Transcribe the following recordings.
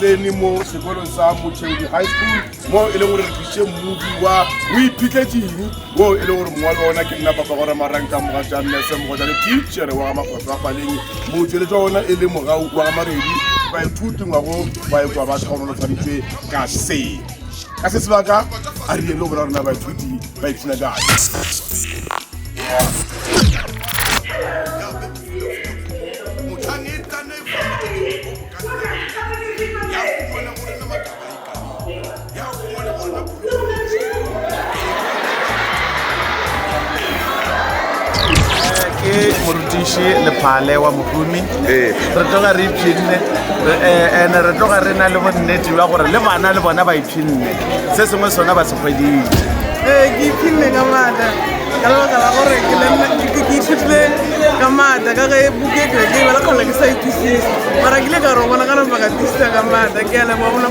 tsene mo sekolong sa mochedi high school mo e leng gore re tlisitše mmodi wa o iphitletseng o e leng gore mongwa le ona ke nna papa gore marang ka moga ja nna se mogo jale teachere wa ga makgotso a faleng motsweletsa ona e le mogau wa ga maredi baithuti ngwago ba e kwa ba tlhaonolofaditšwe ka seo ka se sebaka a rile go bora rona baithuti ba ipshina ka ke morutiši lephale wa mohumi ee. re tloga re ipshinne eh, ande re tloga re na le bonnete ba gore le bana le bona ba ipshinne se sengwe sona ba se kgweditše ee ke ipshinne ka maata ka lebaka la gore ke ithutile ka maata ka ge buketo ke bala kgona ke sa ithusis mara kile ka re o bona ka napa ka tisisa ka maata ke a leboa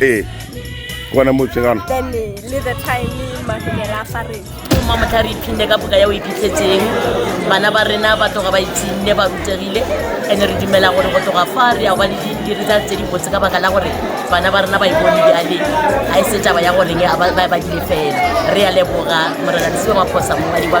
ee gona motsegana mma motho a re iphinne ka boka ya o iphitlhetseng bana ba rena ba toga ba itshenne ba rutegile and-e re dumela gore go toga fa re ya ba le dindiri tsa tse dibotse ka baka la gore bana ba rena ba ipone jale ga e se taba ya goreng ba dile fela re ya leboga morena le seo maphosa mongadi ba